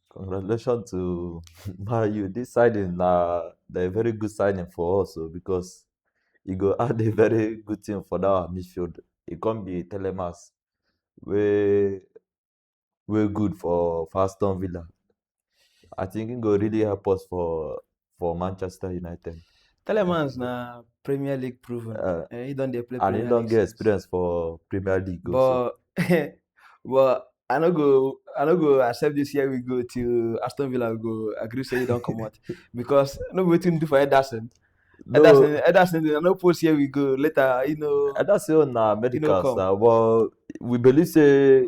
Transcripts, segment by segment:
Congratulations to Man U. This signing na na a very good signing for us o because e go add a very good thing for that our midfield. E come be Telemas wey wey good for for Aston Villa. I think he go really help us for for Manchester United. Telemans na Premier League proven. Uh, eh, he don dey play. And he don get experience for Premier League. But also. but I no go I no go accept this year we go till Aston Villa go agree say he don comot because no be wetin do for Ederson. No. Ederson Ederson dey no post here we go later you know. Ederson na medicals na but we believe say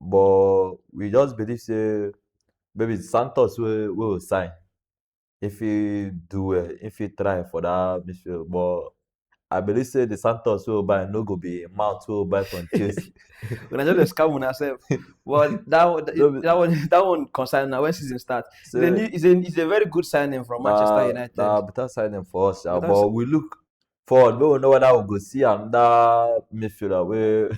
but we just believe say maybe Santos wey wey go sign if he do well if he try for that midfield but I believe say the Santos wey we buy no go be mount wey we buy from Chelsea. Una just dey scam una sef. But that one, No be- that one, that one concern na when season start. It's a, So, new, it's, a, it's a very good signing from Manchester na- United. na better signing for us, sha, Better but we look for no we know whether we go see another midfielder wey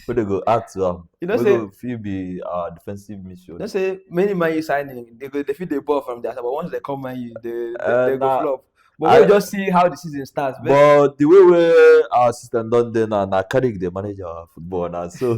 wey dey go add to am you know wey say go fit be our defensive you midfielder. know say many man u signing they go they fit dey ball from their side but once they come man u they they, Eh, they go na- flop but I- we just see how the season start but but the way wey our system don dey now na carrick dey manage our football na so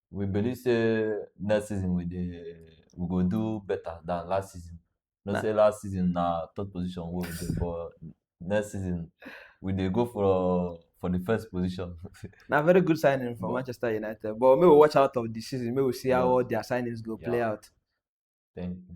we believe say next season we dey we go do better than last season. No say last season na third position wey we dey but next season we dey go for for the first position. na very good signing for but, Manchester United but make we watch out of the season make we see how all their signings go yeah. play out. Thank you.